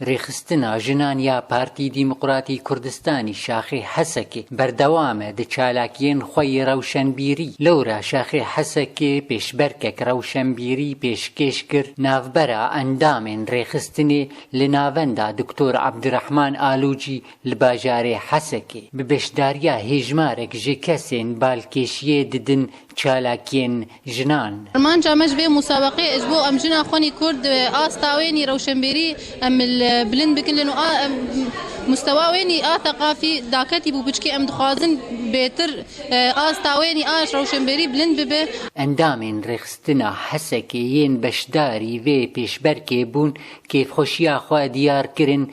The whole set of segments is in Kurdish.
Rêxistina jinan ya Partî Dîmoqratî Kurdistanî Şaxê Hesekê berdewam e di çalakiyên xwe yê rewşenbîrî. Lewra Şaxê Hesekê pêşberkek rewşenbîrî pêşkêş kir navbera endamên rêxistinê li navenda Doktor Abdirehman Alûcî li bajarê Hesekê. Bi beşdariya hêjmarek ji kesên balkêşiyê didin çalakiyên jinan. Armanca me ji vê musabeqeyê e ji bo em jina xwenî kurd asta wê nî rewşenbêrî em li bilind bikilin û mustewa wê nî a theqafî daketî bû piçkî em dixwazin bêtir asta wê nî a rewşenbêrî bilind bibe. Endamên Rêxistina Hesekê yên beşdarî vê pêşberkê bûn kêfxweşiya xwe diyar kirin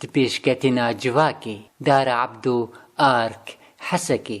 Di pêşketina civakê, Dara Ebdo, ark, Hesekê.